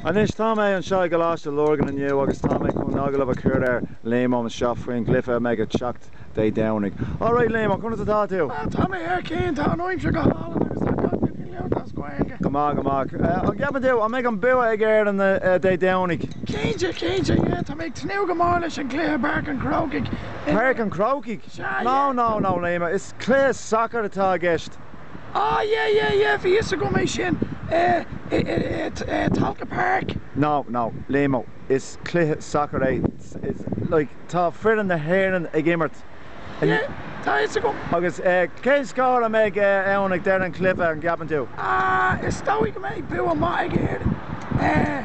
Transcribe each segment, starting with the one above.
Anois, tá mé anseo i gColáiste Lurgan inniu agus tá mé chun agallamh a chur ar Liam-o anseo faoi an gcluiche a mbeidh ag teacht Dé Domhnaigh. Alright Liam, conas atá tú? Tá mé go maith, tá an aimsir go hálainn agus tá gach duine ag labhairt as Gaeilge. Go maith, go maith. An gceapann tú, an mbeidh an bua ag Éirinn Dé Domhnaigh? Cinnte, cinnte, yeah. Tá mé ag tnúth go mór leis an gcluiche i bPáirc an Chrócaigh. Páirc an Chrócaigh? Sea, yeah. No, no, no Liam, is cluiche sacair atá i gceist. Ah yeah yeah yeah bhí fhios agam é sin eh Tolka Park. No no Liam-o is cluiche sacair é like tá foireann na hÉireann ag imirt in Yeah tá fhios agam. Agus cé scór a mbeidh ann ag deireadh an chluiche an gceapann tú? Ah is dóigh go mbeidh bua maith ag Éirinn eh.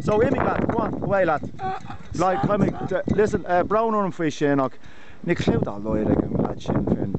So imigh leat, go on, away leat. Like, tá mé, listen, eh, brón orm faoi sin ach níl cliú dá laghad ag an leaid sin finn.